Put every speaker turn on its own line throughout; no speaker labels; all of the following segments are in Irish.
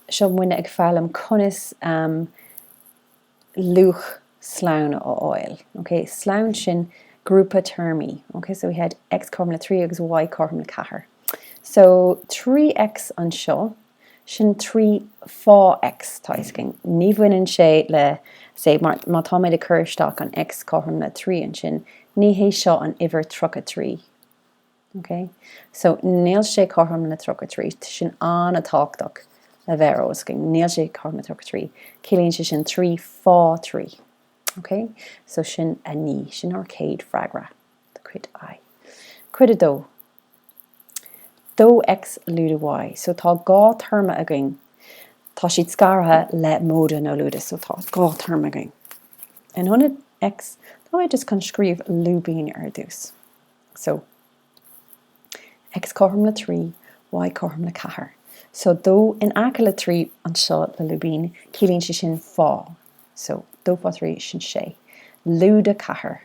seo muidne ag foghlaim conas luach sloinn a fháil. ok? Slonn, sin grúpa téarmaí. ok? So we had X cothrom le 3 agus Y cothrom le 4. So 3X anseo, sin 3 fá X tá fhios againn. Ní bhaineann sé le, say, má tá mé ag cur isteach an X cothrom le 3 ansin, ní hé seo an uimhir 33. Ok so nil sé cothrom le 33, sin an-tábhachtach le bheith ar eolas againn, níl sé cothrom le 33, ciallaíonn sé sin 3 fá 3. Ok so sin a naoi, sin ár céad freagra de chuid I. Cuid a dó, dó X lúide Y, so tá dhá téarma againn, tá siad scartha le móide nó lúide so tá dhá téarma againn. In ionad X, tá mé just chun scríobh lúibín ar dtús. So. X cothrom le trí, Y cothrom le ceathair. So, dó in aice le trí anseo le lúibín, ciallaíonn sé sin fá. So, dó fá thrí, sin sé. Lúide ceathair,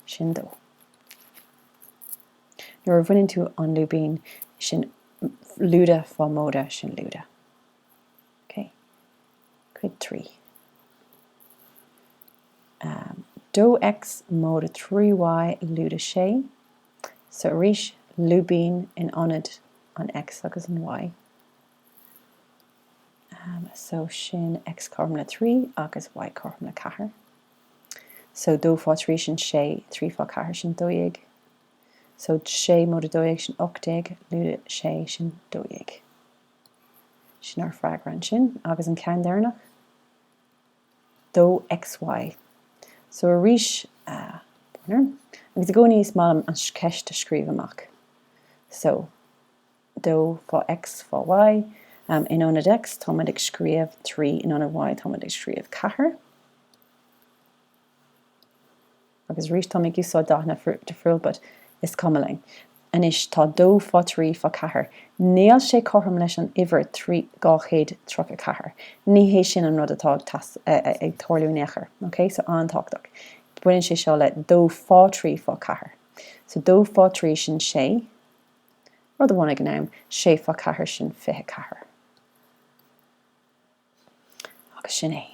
sin dó. Nuair a bhaineann tú an lúibín, sin lúide fá móide, sin lúide. Cuid 3. Am. Dó X, móide 3Y, lúide 6. So arís, lúibín in ionad an X agus an Y. Am. So sin X cothrom le 3 agus Y cothrom le 4. So dó fá thrí sin sé, trí fá ceathair sin dó dhéag. So sé móide 12 sin ocht déag, lúide 6 sin dó dhéag. Sin ár bhfreagra ansin, agus an ceann deireanach, dó XY. So arís, agus i gcónaí is maith liom an cheist a scríobh amach. So, dó fá X fá Y, in ionad X táimid ag scríobh trí, in ionad Y táimid ag scríobh ceathair. Agus arís, táim ag úsáid dathanna difriúil but is cuma linn. Anois, tá dó fá trí fá ceathair. Níl sé cothrom leis an uimhir trí dhá chéad tríocha ceathair. Ní hé sin an rud atá ag tarlú in aon chor, ok? So, an-tábhachtach. Baineann sé seo le dó fá trí fá ceathair. So, dó fá trí, sin sé. Rud amháin ag an am. Sé fá ceathair, sin fiche ceathair. Agus sin é.